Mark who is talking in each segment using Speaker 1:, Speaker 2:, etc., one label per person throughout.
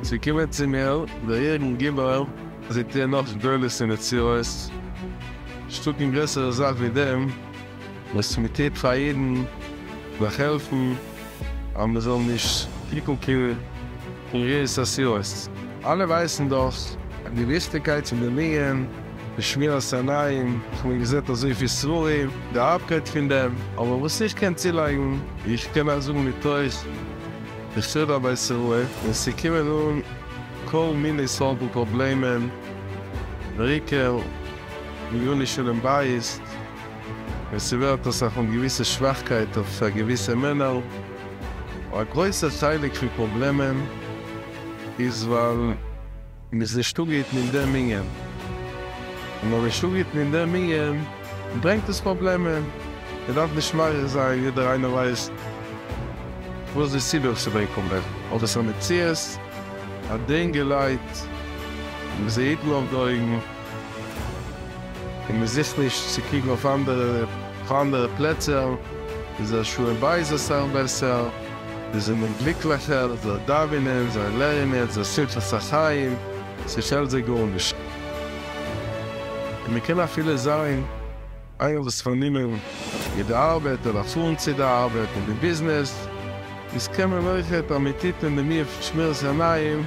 Speaker 1: צו קומען צו מיר, דער יעריגן גיבור, זעט איר נאך גדולות און נצירות? שטאט און גרעסערע זאך ווי דעם? וואס מען טוט פאר אידן דורך העלפן אז מען זאל נישט קוקן קיין רעיס אסילות. אלע ווייסן דאך די וויכטיגקייט פון די לינען פון שמירת עיניים, איך מיין געזעט אזויפיל ספרים די הארבקייט פון דעם, אבער וואס איך קען צולייגן, איך קען אייך זאגן מתוך בחדא בית'רעא, ווען ס'קומען אן כל מיני סארטן פראבלעמען, ריקער, ענייני שלום בית, און ס'ווערט אסאך אן געוויסע שוואכקייט אויף פאר געוויסע מענער. א גרויסע חלק פון פראבלעמען איז ווייל מ'איז נישט אפגעהיטן אין דעם ענין. און אויב מ'איז נישט אפגעהיטן אין דעם ענין ברענגט עס פראבלעמען. מ'דארף נישט מאריך זיין, יעדער איינער ווייסט וואס די סיבה וואס ס'ברענגט פראבלעמען. אבער ס'איז א מציאות, א דין געלייט, מ'זעהט מיט די אויגן. און מען זוכט נישט צו קוקן אויף אנדערע אויף אנדערע פלעצער, איז דער שלום בית אסאך בעסער, זיי זענען גליקליכער, זיי דאווענען, זיי לערנען, זיי שמחת החיים, ס'פעלט זיי גארנישט. און מען קען אפילו זיין. איינער וואס איז פארנומען מיט די ארבעט אדער פארן צו די ארבעט און די ביזנעס איז קען מען אויך ע פ המיטב און די מי פון שמירת עיניים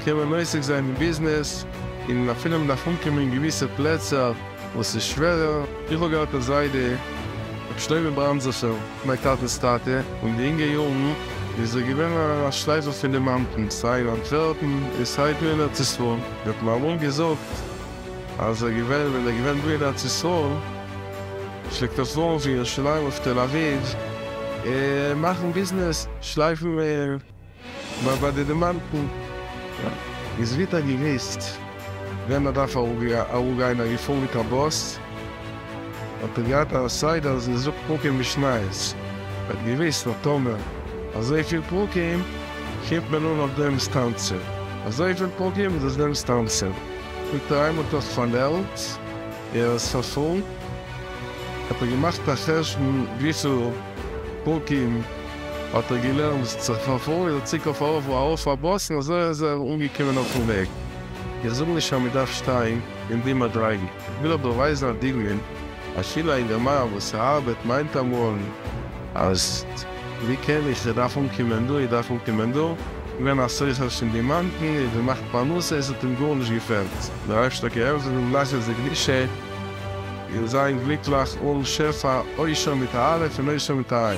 Speaker 1: קען מען עוסק זיין אין ביזנעס און אפילו מען דארף אנקומען אין געוויסע פלעצער וואס איז שווערער. איך האב געהאט א זיידע רבי שלמה בראנדזעפער, מיין טאטע'ס טאטע, אין די אינגע יארן איז ער געווען א שלייפער פון די מאנטענס, סיי אין אנטווערפן און סיי דא אין ארץ ישראל, ער האט מיר אמאל געזאגט אז ער געווען ווען ער געווען דא אין ארץ ישראל פלעגט ער פארן פון ירושלים אויף תל אביב און מאכן ביזנעס שלייפן ביי ביי די דימאנטן איז ווער האט געוויסט ווען מען דארף אראפגיין ער געפארן מיט א באס האט ער געהאט א סדר אז ער זאגט פרקים משניות ער האט געוויסט אז טאמער אזויפיל פרקים קומט מען אן אויף דעם סטאנציע אזויפיל פרקים איז עס דעם סטאנציע. געטריימלט האסט פון וועלט ער איז פארפאלן האט ער געמאכט א חשבון וויפיל פרקים האט ער געלערנט ביז צו פארפאלן איז ער צוריק אויף ארויף ארויף א באס און אזוי איז ער אנגעקומען אויפן וועג. איך זאג נישט אז מ'דארף שטיין אין די מדריגה, איך וויל אבער ווייזן א דוגמא. א שילע אינגערמאן וואס ארבעט מיינט אמאל אז ווי קען איך, איך דארף אנקומען דא, איך דארף אנקומען דא, געווען א סוחר שוין דימאנטן, איז געמאכט פרנסה, עס האט אים גארנישט געפעלט, דער אייבערשטער קען העלפן אים לאכן זיך גלישה און זיין גליקליך אן שפע עושר מיט א אלף און עושר מיט א ע'.